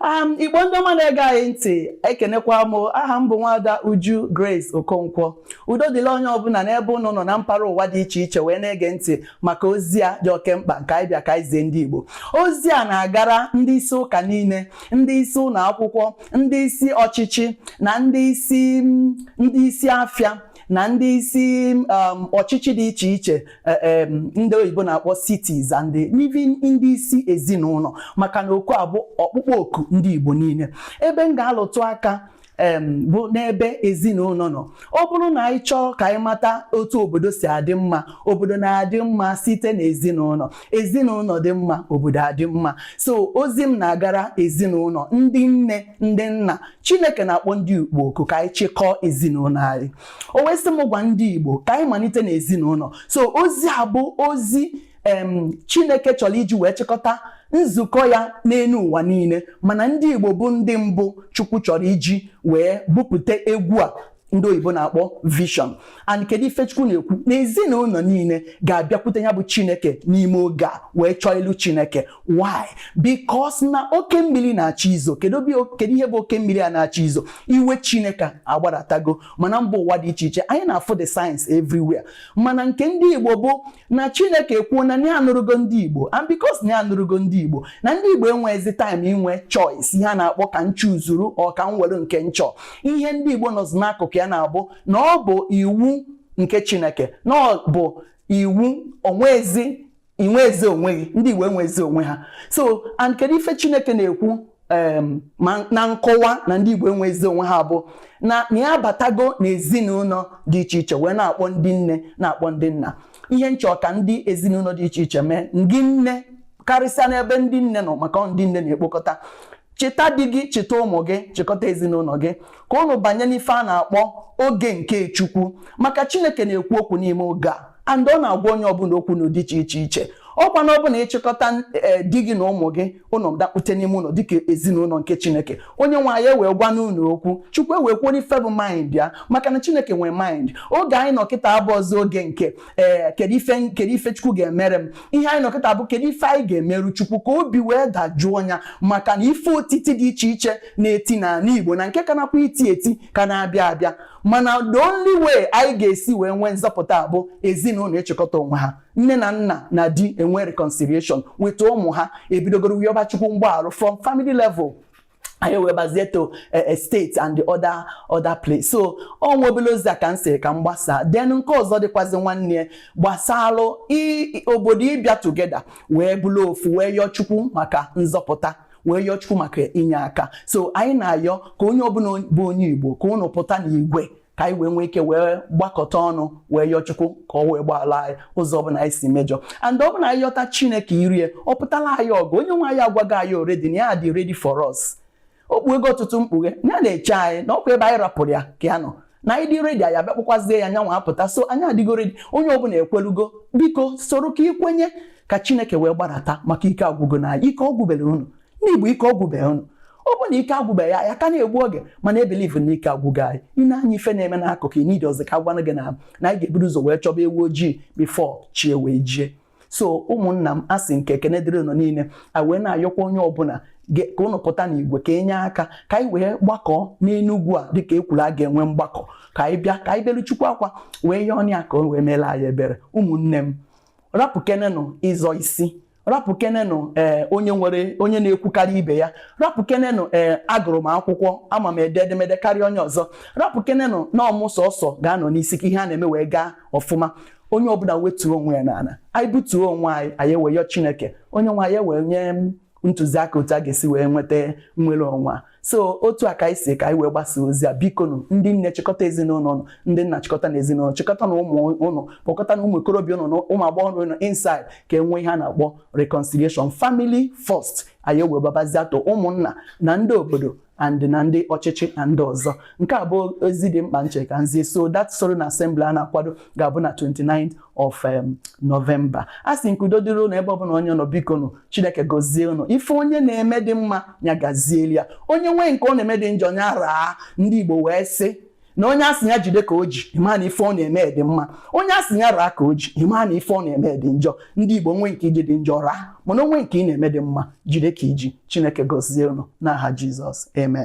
Um, igbo ndị ọma na-ege anyị ntị ekenekwa m aha m bụ nwada uju grace okonkwo udo dịlị onye ọbụla n'ebe ụnụ nọ na mpaghara ụwa dị iche iche wee na-ege ntị maka ozi a dị oke mkpa nke anyị bịa ka anyị zie ndị igbo ozi a na-agara ndị isi ụka niile ndị isi ụlọ akwụkwọ ndị isi ọchịchị na ndị isi afịa na ndị isi um, ọchịchị dị iche iche e, ndị oyibo na-akpọ cities and even ndị isi ezinụlọ maka na oku a bụ ọkpụkpọ oku ndị Igbo niile ebe m ga-alụtụ aka bụ n'ebe ezinụlọ nọ ọ bụrụ na anyị chọọ ka anyị mata otu obodo si adị mma obodo na-adị mma site na ezinụlọ ezinụlọ dị mma obodo adị mma so ozi m na-agara ezinụlọ ndị nne ndị nna chineke na-akpọ ndị igbo oku ka anyị chịkọọ ezinụlọ anyị o wee sị m gwa ndị igbo ka anyị malite n'ezinụlọ so ozi a bụ ozi em chineke chọrọ iji wee chịkọta nzukọ ya n'elu ụwa niile mana ndị igbo bụ ndị mbụ chukwu chọrọ iji wee bupụta egwu a ndị oyibo na-akpọ vision and kedu ife chukwu na-ekwu na ezinụlọ niile ga-abịakwute ya bụ chineke n'ime oge a wee chọọ ilu chineke why because na oke mmiri na-achọ izo kedu ihe bụ oke mmiri a na-achọ izo iwe chineke agbadatago ma na mba ụwa dị iche iche anyị na-afụ the signs everywhere mana nke ndị igbo bụ na chineke ekwuo na ya anụrụgo ndị igbo and because na ya anụrụgo ndị igbo na ndị igbo enweghịzi time inwe choice ihe a na-akpọ ka m chuzuru or ka m were nke m chọ ihe ndị igbo nọzi n'akụkụ ya na-abụ na ọ bụ iwu nke chineke na ọ bụ iwu onwezi inwezi onwe gị ndị igbo enwezi onwe ha so and kedu ife chineke na-ekwu ma na nkọwa na ndị Igbo enwezi onwe ha bụ na na ya abatago n'ezinụlọ dị iche iche wee na-akpọ ndị nne na-akpọ ndị nna ihe m chọ ka ndị ezinụlọ dị iche iche mee ndị nne karịsịa n'ebe ndị nne nọ maka ndị nne na-ekpokọta cheta di gị cheta ụmụ gị chịkọta ezinụlọ gị ka ụnụ banye n'ife a na-akpọ oge nke Chukwu maka Chineke na-ekwu okwu n'ime oge a and ọ na-agwa onye ọbụla okwu n'ụdị iche iche ọkwa na ọ bụ na ị chịkọta eh, di gị na ụmụ gị ụnụ dakpute n'ime ụlọ dịka ezinụlọ nke chineke onye nwe anyị ewee gwa ụnụ okwu chukwu ewee kwuo n'ife bụ mind ya maka na chineke nwee mind oge anyị nọ kịta abụrọzị oge nke ee eh, kedu ife kedu ife chukwu ga-emere m ihe anyị nọ kịta bụ kedu ife anyị ga-emeru chukwu ka obi wee dajụọ ya maka na ife otiti dị iche iche na-eti n'ala igbo na nke ka na-akwa iti eti ka na-abịa abịa mana the only way anyị ga-esi wee nwee nzọpụta bụ ezinụlọ ịchịkọta onwe ha nne na nna na di enwe reconciliation weta ụmụ ha ebidogoro wee yọba chukwu mgbaghara from family level anyị wee bazie to eh, eh, state and the other other place so ọ nwe obele ozi a ka m sị ka m gbasaa then nke ọzọ dịkwazi nwanne gbasalụ obodo ịbịa together wee bụrụ ofu wee yọọ chukwu maka nzọpụta wee yọọ chukwu maka inye aka so anyị na-ayọ ka onye ọbụla bụ onye igbo ka ụnụ pụta n'igwe ka anyị wee nwee ike wee gbakọta ọnụ wee yọọ Chukwu ka ọ wee gbaala anyị ụzọ ọbụla anyị si mejọ and ọ bụ na anyị yọta Chineke irie ọ pụtala anyị ọgụ onye nwe anyị agwago anyị already na ya dị ready for us o kpuego ọtụtụ mkpughe ya na-eche anyị na ọkwa ebe anyị rapụrụ ya ka ya nọ na anyị dị ready anyị abịakpọkwazie ya nyanwa apụta so anyị adịgo ready onye ọbụla ekwelugo biko soro ka ikwenye ka Chineke wee gbadata maka ike agwụgo na ike ọ gwụberọ unu ndị Igbo ike ọ gwụbeghị ụnụ ọ bụ na ike agwụbeghị ya ya ka na-egbu oge mana I believe na ike agwụgo anyị i nee anya ife na-eme n'akụkụ i need ọzọ ka a gwanụ gị na na anyị ga-eburu ụzọ wee chọba ewu ojii before chi wee jie so ụmụnna m asị m ka ekene dịrị ụnụ niile a wee na-ayọkwa onye ọbụla ka ụnụ pụta n'igwe ka enye aka ka anyị wee gbakọọ n'enugwu a dịka ekwuru a ga-enwe mgbakọ ka anyị bịa ka anyị belu chukwu akwa wee yọọnụ ya ka o wee meela anyị ebere ụmụnne m rapụkenenụ ịzọ isi rapụkenenụ ee eh, onye nwere onye na-ekwukarị ibe ya rapụkenenụ ee eh, agụrụ m akwụkwọ ama m ede edemede karịa onye ọzọ rapụkenenụ na ọ mụ sọsọ ga-anọ n'isi ka ihe a na-eme wee gaa ọfụma onye ọbụla wetuo onwe ya n'ala anyị butuo onwe anyị anyị ewee yọọ chineke onye nwe anyị ewee nye ntụziaka otu a ga-esi wee nweta nnwere onwe a so otu a ka anyị sị ka anyị wee gbasa ozi a bikonu ndị nne chịkọta ezinụlọ ụnụ ndị nna chịkọtanụ ezinụlọ chịkọtanụ ụmụ ụnụ kpọkọtanụ ụmụ okorobịa ụnụ na ụmụ agbọghọ ụnụ inside ka enwee ihe a na-akpọ reconciliation family first anyị wee gbabazie to ụmụnna na ndị obodo and na ndị ọchịchị na ndị ọzọ nke a bụ ozi dị mkpa m che ka m zie so that solemn assembly a na-akwado ga-abụ na 29 of um, November asị m ka udo dịrị ụnụ ebe ọbụla onye nọ bikonụ Chineke gozie ụnụ ife onye na-eme dị mma ya gazieli ya onye nwee nke ọ na-eme dị njọ ya raa ndị Igbo wee sị na onye asị ya jide ka o ji ịma na ife ọ na-eme dị mma onye asị ya raa ka o ji ịma na ife ọ na-eme dị njọ ndị Igbo nwee nke i ji dị njọ raa mana o nwee nke ị na-eme dị mma jide ka i ji Chineke gozie ụnụ n'aha Jizọs amen